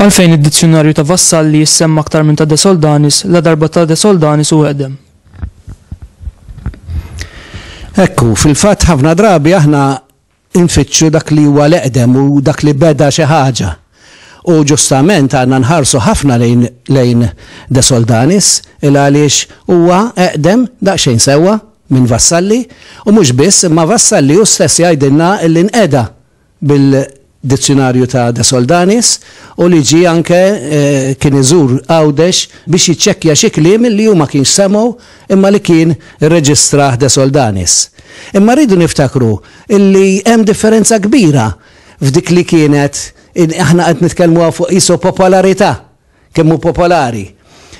Għalfejn id-dizzjonarju ta' Vassalli jissemma aktar minn ta' De Soldanis la darba ta' De Soldanis u għedem. Ekku, fil-fatt ħafna drabi aħna Infittxu dak li huwa l-eqdem u dak li beda xi ħaġa. U ġustament għandna nħarsu ħafna lejn lejn De Soldanis il-għaliex huwa eqdem daqsxejn sewwa minn Vassalli u mhux biss imma Vassalli hu stess jgħidilna li nqeda bil-Dizzjunarju ta' De Soldanis u li ġie anke kien iżur Għawdex biex jiċċekkja xi kliem li hu ma kienx semgħu imma li kien irreġistrah De Soldanis. Imma rridu niftakru illi hemm differenza kbira f'dik li kienet, aħna qed nitkellmu hawn fuq qisu popolarità, kemm hu popolari.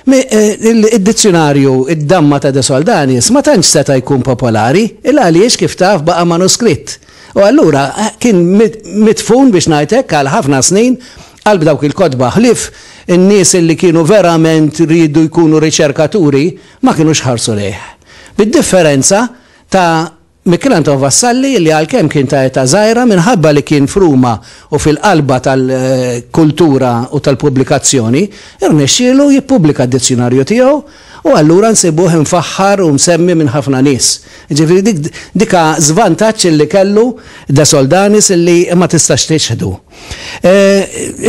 Id-dizzjunarju Id-Damma ta' De Soldanis ma tantx seta' jkun popolari, il għaliex kif taf baqa' manuskritt. U allura kien midfun biex ngħid hekk għal ħafna snin qalb dawk il-kotba, ħlief in-nies illi kienu verament riedu jkunu riċerkaturi ma kinux ħarsu lejh. Bid-differenza ta' Michel Anton Vassalli li għalkemm kien ta' età żgħira minħabba li kien f'Ruma u fil-qalba tal-kultura u tal-pubblikazzjoni, irnexxielu jippubblika d-dizzjunarju tiegħu u allura nsibuh imfaħħar u msemmi minn ħafna nies. Jiġifieri dik ha żvantaġġ li kellu De Soldanis li ma tistax tiċħdu.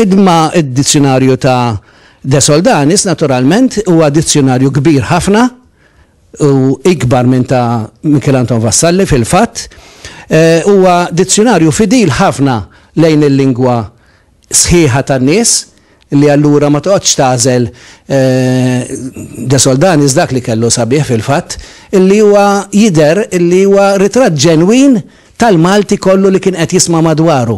Imma d-dizzjunarju ta' De Soldanis naturalment huwa dizzjunarju kbir ħafna, u ikbar minn ta' Michel Anton Vassalli fil-fatt, eh, huwa dizzjunarju fidil ħafna lejn il-lingwa sħiħa tan-nies, li allura ma toqgħodx tagħżel eh, De Soldanis dak li kellu sabiħ fil-fatt, illi huwa jidher illi huwa ritratt ġenwin tal-Malti kollu li kien qed jisma' madwaru.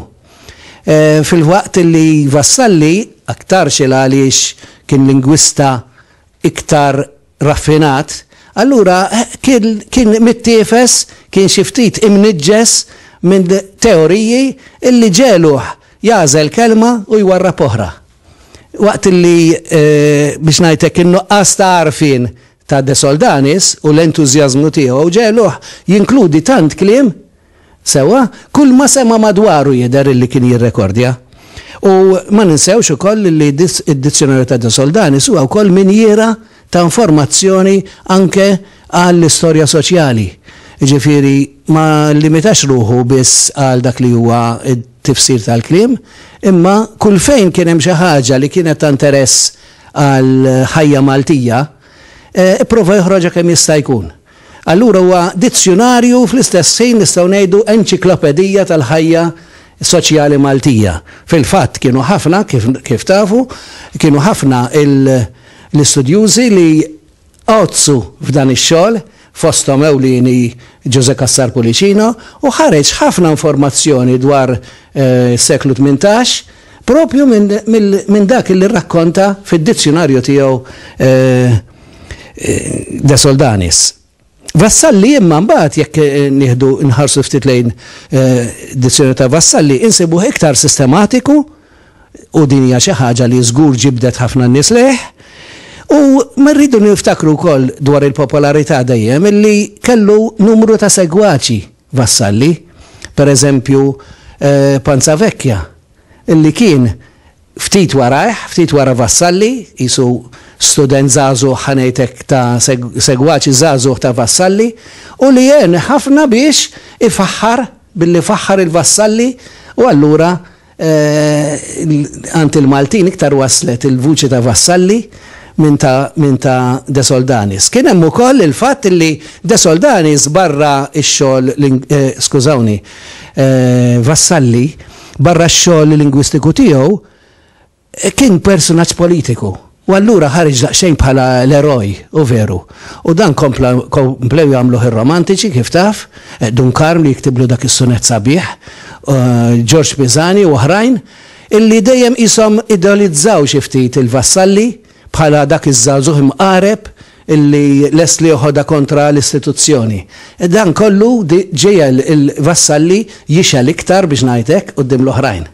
Eh, fil-waqt illi Vassalli aktar xil għaliex kien lingwista iktar raffinat, allura kien mittiefes, kien xi ftit imniġġes minn teoriji li ġegħluh jagħżel kelma u jwarrab oħra. Waqt li, biex ngħid hekk, in-nuqqas ta' għarfien ta' De Soldanis u l-entużjażmu tiegħu ġegħluh jinkludi tant kliem Sewwa, kulma sema' madwaru jidher illi kien jirrekordja. U ma ninsewx ukoll illi d-Dizzjonarju ta' De Soldanis huwa wkoll minjiera ta' informazzjoni anke għall-istorja soċjali. Jiġifieri ma llimitax ruħu biss għal dak li huwa t-tifsir tal-kliem, imma kull fejn kien hemm xi ħaġa li kienet ta' interess għall-ħajja Maltija, ipprova joħroġha kemm jista' jkun. Allura huwa dizzjunarju u fl-istess ħin nistgħu ngħidu enċiklopedija tal-ħajja soċjali Maltija. Fil-fatt kienu ħafna, kif kif tafu, kienu ħafna l-istudjużi li għoddsu f'dan ix-xogħol, fosthom ewlieni Ġużè Cassar Pullicino, u ħareġ ħafna informazzjoni dwar is-seklu tmintax, Proprju minn dak li rrakkonta fid-dizzjunarju tiegħu De Soldanis. Vassalli imma mbagħad jekk nieħdu nħarsu ftit lejn dizzjunarju ta' Vassalli insibuh iktar sistematiku u din hija xi ħaġa li żgur ġibdet ħafna nies lejh. U ma rridu niftakru wkoll dwar il-popolarità dejjem illi kellu numru ta' segwaċi Vassalli, per eżempju Panzavecchia, li kien ftit warajh, ftit wara Vassalli, qisu student żagħżugħ, ħa ngħid hekk, ta' segwaċi żagħżugħ ta' Vassalli, u li għen ħafna biex ifaħħar, billi faħħar il-Vassalli, u allura, Għand il-Maltin iktar waslet il-vuċi ta' Vassalli minn ta' De Soldanis. Kien hemm ukoll il-fatt li De Soldanis barra x-xogħol, skużawni, Vassalli barra x-xogħol lingwistiku tiegħu, Kien persunaġġ politiku u allura ħareġ daqsxejn bħala l-eroj, hu veru. U dan kompla komplew jagħmluh ir-romantiċi, kif taf, Dun Karm li jiktiblu dak is-sunett sabiħ, Ġorġ Pisani u oħrajn, illi dejjem qishom ideolizzaw xi ftit il-Vassalli bħala dak iż-żagħżugħ imqareb illi lest li joħodha kontra l-istituzzjoni. Dan kollu ġiegħel il-Vassalli jixgħel iktar, biex ngħid hekk, quddiem l-oħrajn.